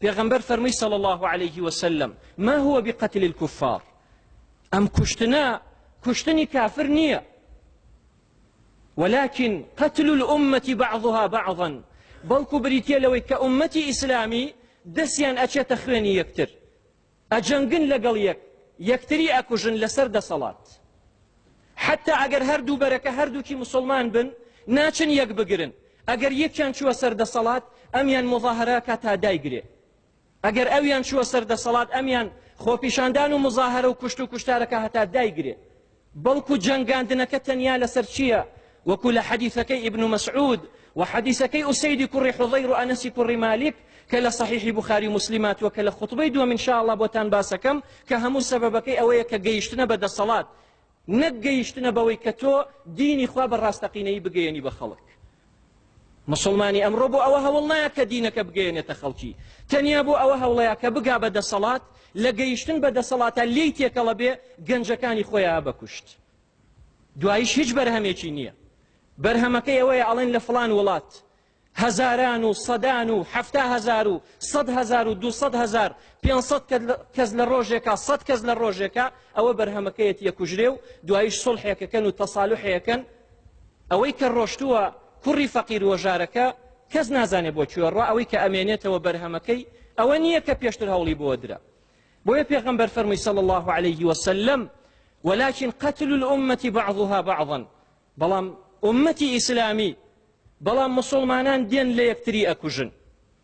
پێغەمبەر فەرمووی صلی اللە علیه وسلم ما هو بقتل الكفار ئەم کوشتنە کوشتنی کافر نییە ولكن قتل الأمة بعضها بعضا بەڵکو بریتە لەوەی کە ئومەتی ئیسلامی دەستیان ئەچێتە خوێنی یەکتر ئەجەنگن لەگەڵ یەک یەکتری ئەکوژن لەسەر دەسەڵات حتا ئەگەر هەردوو بەرەکە هەردووکی مسلمان بن ناچن یەک بگرن ئەگەر یەکیان چووە سەر دەسەڵات ئەمیان مظاهراکە تا دایگرێ ئەگەر ئەویان چووە سەر دەسەڵات ئەمیان خۆپیشاندان و مظاهرە و کوشت و کوشتارەکە هەتا دایگرێ بەڵکو جەنگاندنەکە تەنیا لەسەر چییە؟ وەکو لە حەدیثەکەی ئیبن مسعود و حەدیثەکەی ئوسەیدی کوڕی حوضەیر و ئەنەسی کوڕی مالیک کە لە صحیحی بخاری و مسلم هاتووە کە لە خطبەی دووەم ان شاء الله بۆتان باسەکەم کە هەموو سەبەبەکەی ئەوەیە کە گەیشتنە بە دەسەڵات نەک گەیشتنە بەوەی کە تۆ دینی خوا بە ڕاستەقینەی بگەیەنی بە خەڵک موسڵمانی ئەمڕۆ بۆ ئەوە هەوڵ نایە کە دینەکە بگەیەنێتە خەڵکی تەنیا بۆ ئەوە هەوڵەیە کە بگا بە دەسەڵات لە گەیشتن بە دەسەڵاتە لێی تێکەڵە بێ گەنجەکانی خۆیان بەکوشت دوایش هیچ بەرهەمێکی نییە بەرهەمەکەی ئەوەیە ئەڵێن لە فلان وڵات هەزاران و سەدان و هەفتا هەزار و سەد هەزار و دوسەد هەزار پێسەد کەس لە ڕۆژێکە سەد کەس لە ڕۆژێکە ئەوە بەرهەمەکەیەت یەکوژرێ و دوایش سڵحێکەکەن و تەسالحەکەن ئەوەی کە ڕۆشتووە کوڕی فەقیر وەژارەکە کەس نازانێ بۆ کوێ ڕا ئەوەی کە ئەمێنێتەوە بەرهەمەکەی ئەوە نییە کە پێشتر هەوڵی بۆ درا بۆیە پێغەمبەر فەرمووی صلی الله عليه وسلم ولكن قتل الأمة بعضها بعضا بەڵام ئومەتی ئیسلامی بەڵام مسلمانان دێن لە یەکتری ئەکوژن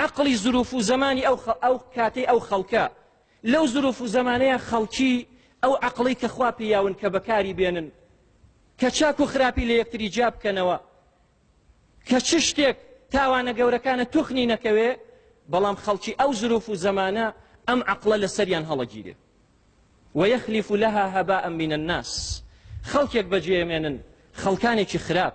ئەقڵی زروف و زەمانی ئەو ئەو کاتەی ئەو خەڵکە لەو زروف و زەمانەیە خەڵکی ئەو عقڵی کە خوا پیاون کە بەکاری بێنن کە چاک و خراپی لە یەکتری جیا بکەنەوە کە چ شتێک تاوانە گەورەکانە توخنی نەکەوێ بەڵام خەڵکی ئەو زروف و زەمانە ئەم عقلە لە سەریان هەڵەگیرێ وەیەخلیف لەها هەبا ئەمینە الناس خەڵکێک بەجێمێنن خەڵکانێکی خراپ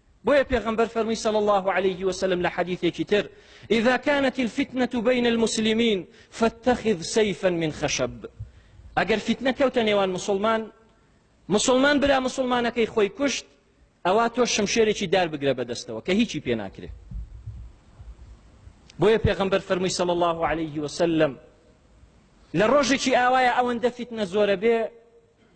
بۆیە پێغەمبەر فەرمووی صلی الله علیه وسلم لە حەدیثێکی تر اذا كانت الفتنة بين المسلمين فاتخذ سيفا من خشب ئەگەر فتنە کەوتە نێوان مسلمان مسلمان برا مسلمانەکەی خۆی کوشت ئەوە تۆ شمشێرێکی دار بگرە بەدەستەوە کە هیچی پێ ناکرێت بۆیە پێغەمبەر فەرمووی صلی الله علیه وسلم لە ڕۆژێکی ئاوایە ئەوەندە فتنە زۆرە بێ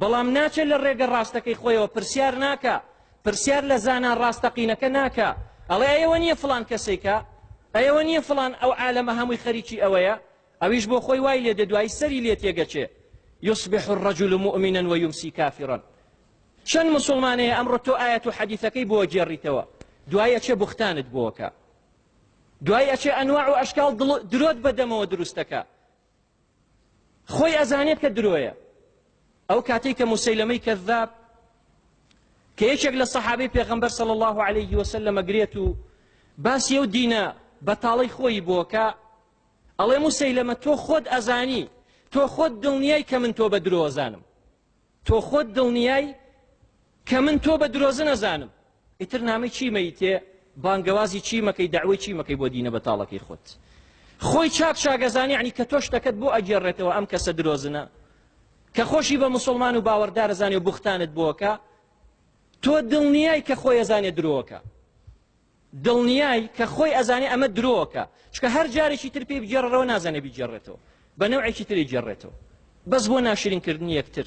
بەڵام ناچێت لە ڕێگە ڕاستەکەی خۆیەوە پرسیار ناکا پرسیار لە زانا ڕاستەقینەکە ناکا ئەڵێ ئەوە نییە فلان کەسێکە ئەوە نییە فلان ئەو عالەمە هەمووی خەریکی ئەوەیە ئەویش بۆ خۆی وای لێ دەدوایی سەری لێ تێگەچێ يصبح الرجل مؤمنا ويمسي كافرا چەند مسلمانەیە ئەمڕۆ تۆ ئاەت و حەدیثەکەی بۆ گێڕیتەوە دوای ئەچێ بختانت بۆکە دوای ئەچێ ئەنواع و ئەشکال درۆت بەدەمەوە دروستەکە خۆی ئەزانێت کە درۆیە ئەو کاتێک کە مسەیلەمەی کەذاب کە یەکێک لە سەحابەی پێغەمبەر صلی الله عليه وسلم گرێت و باسی ئەو دینە بەتاڵی خۆی بۆکە ئەڵێ مسەیلەمە تۆ خۆت ئەزانی تۆ خۆت دڵنیای کە من تۆ بە درۆزانم تۆ خۆت دڵنیای کە من تۆ بە درۆزن ئەزانم ئیتر نامەی چی مەیتێ بانگەوازی چی مەکەی داوای چی مەکەی بۆ دینە بەتاڵەکەی خۆت خۆی چاک چاگەزانی عنی کە تۆشتەکەت بۆ ئەگێڕێتەوە ئەم کەسە درۆزنە کە خۆشی بە مسلمان و باوەڕدارەزانانی و بختانت بۆکە تۆ دڵنیای کە خۆیەزانێ درۆکە دڵنیای کە خۆی ئەزانێ ئەمە درۆکە چونکە هەر جارێکی تر پێی بگێڕرەوە نازانێ بیگێڕێتەوە بە نەوعێکی تر ئەیگێڕێتەوە بەس بۆ ناشرین کردنی یەکتر.